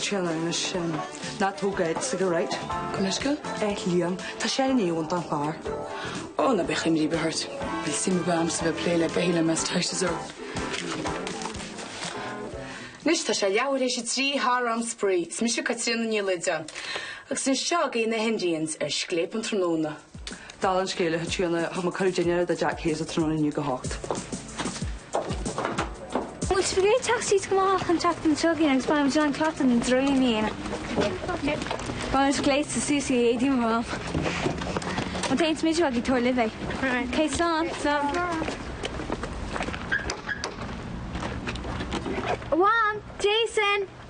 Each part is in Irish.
Chill ann anois sin. Ná tóg Ed chuige, right? Go mbeidh go? Ed Liam. Tá sé in am don chlár. Ó, ná bíodh imní ar bith ort. Níl suim ar bith agamsa a bheith ag plé le beithígh le Mass Teiseasóir. Anois tá sé leathuair tar éis a trí thar am spraoi. Is mise Caitríona Ní Loideáin. Agus anois seo againn na hIndians ar scléip an tráthnóna. Dála an scéil, thit sé ina chuma cur i dteine do Jack Hayes a tráthnóna inniu ag a hocht. Bhfuil spagéid teacht síos go maith chun teacht an tsiogaín agus bain amach an cleachtadh ina dtraoí míonna. Bain leis gléasta suas in éadaí mar am. Má tá aon smideadh agaibh tabhair libh é. Ok, slán. Slán. One, Jason!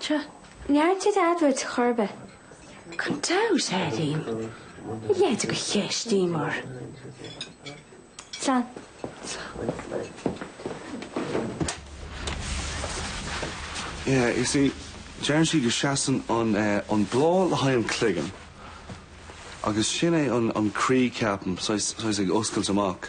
Seo, neart id adhbhairt chorba. Gan dabht, Ailín, ní léite go cheistíomar. Slán. Yeah, you see, deireann sí go seasann an bláth le haghaidh an cloigeann agus sin é an croí, ceapaim, saghas ag oscailt amach.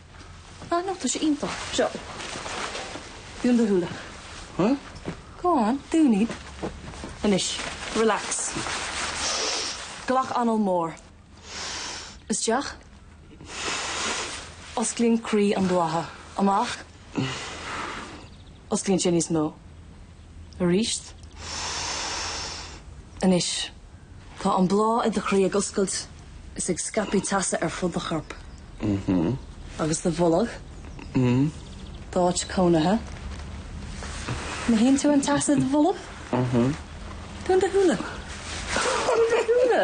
Ah no, tá sé iontach. Seo. Dún do shúile. Huh? Go on, dún iad. Anois, relax. Glac anáil mór. Isteach. Osclaíonn croí an bhlátha. Amach. Osclaíonn sé níos mó. arís. Anois, tá an bláth i do chroí ag oscailt is ag scaipeadh teasa ar fud do chorp. Agus do bholg d'áit cónaithe. Mothaíonn tú an teas i do bholg? Dún do shúile. Dún do shúile!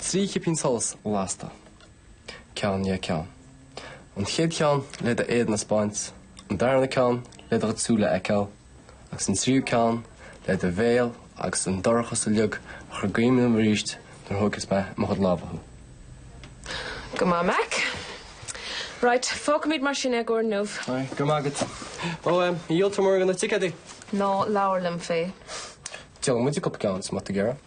Trí chipín solais lasta, ceann dhe ceann. An chéad cheann le do éadan a spáint, an darna ceann le do shúile a fheiceáil, agus an tríú ceann le do bhéal agus an dorchas uilig a chur i gcuimhne dhom arís nuair a thógfas mé i mo chuid lámha thú. Go maith, Mack. Right, fágfaimid mar sin é do inniu. Right, go raibh maith agat. Ó, ar dhíol tú mórán de na ticéadaí. Ná labhair liom fé. Déanfaimid a cup ceann is mo tigh ar a.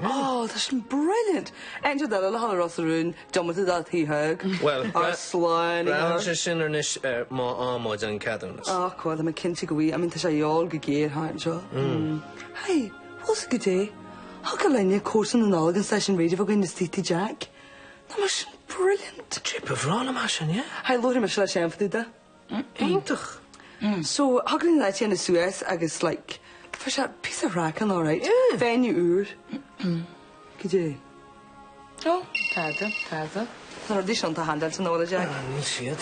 Wow this is brilliant! Enter the little hole Ros na Rún diomaite de Thigh Thaidhg. Well Ar slán a Braitheann sé sin anois ar má fhaigheann muid an ceadúnas. Ach bhuel tá mé cinnte go bhfaighidh, I mean tá sé ag teastáil go géar thart anseo. Hey! Bhfuil a fhios agat cad é. Thig linn cóisir na Nollag an stáisiún raidió againn le Sleepy Jack. Nach mbeadh sin brilliant! Trip a bhreá na maith sin, yeah? Hey luaithe mé seo leis aon phota de. Iontach! So thug an leaid sin a suas agus like tá sé píosa craic ann alright. Yeah. Venue úr. Goidé. Oh, tada, tada. Na rudaí sin atá handáilte in Iola Jack. Ah, níl siad.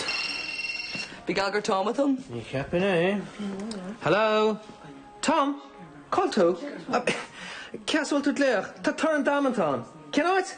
Bhí Gallagher Tom with him. Ní cheapfainn é. Hello? Tom? Cá bhfuil tú? Cé as a bhfuil tú ag glaoch? Tá torann damanta ann. Cén áit?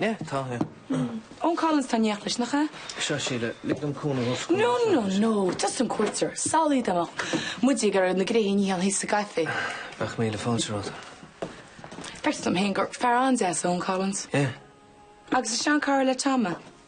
Yeah, tá, yeah. Owen Collins, atá in éineacht leis, nach ea? Seo, Síle, lig dom cúnamh os comhair No, no, no, tusa an cuairteoir, salaí dá mbeadh muid ag iarraidh na gréithe a níochán thíos sa gcaife. Bheadh míle fáilte romhat. Facthas dom féin gur fear an-deas Owen Collins. Yeah. Agus is seanchara le Tom é.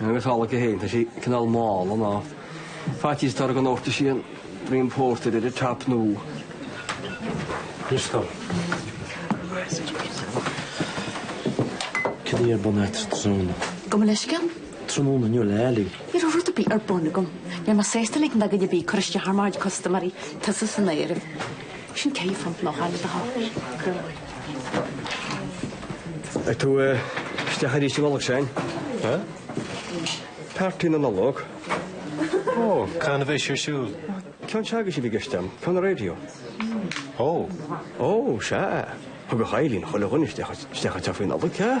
Agus amhlaidh féin, tá sé cineál mála ná faitíos dár ghnóthtar sí an dream pórtair ar an tap nó Crystal. Cad é a bhí ar bun agat tráthnóna? Gabh mo leithscéal? Tráthnóna inniu le Ellie. Ní raibh rud ar bith ar bun agam. Níl mé sásta ligean do dhuine ar bith cur isteach ar mo chuid custaiméirí, tusa san áireamh. Sin céad phunt nó dhá le do thoil. Ag tú isteach arís an Nollaig Sean? Huh? Páirtí na Nollag. Oh, ceann a bheas ar siúl? Ceann s'againne a bhí i gceist agam, ceann an raidió. Oh. Oh, sea. Thug a Chailín chuile dhuine isteach isteach anseo faoin Nollaig, sea?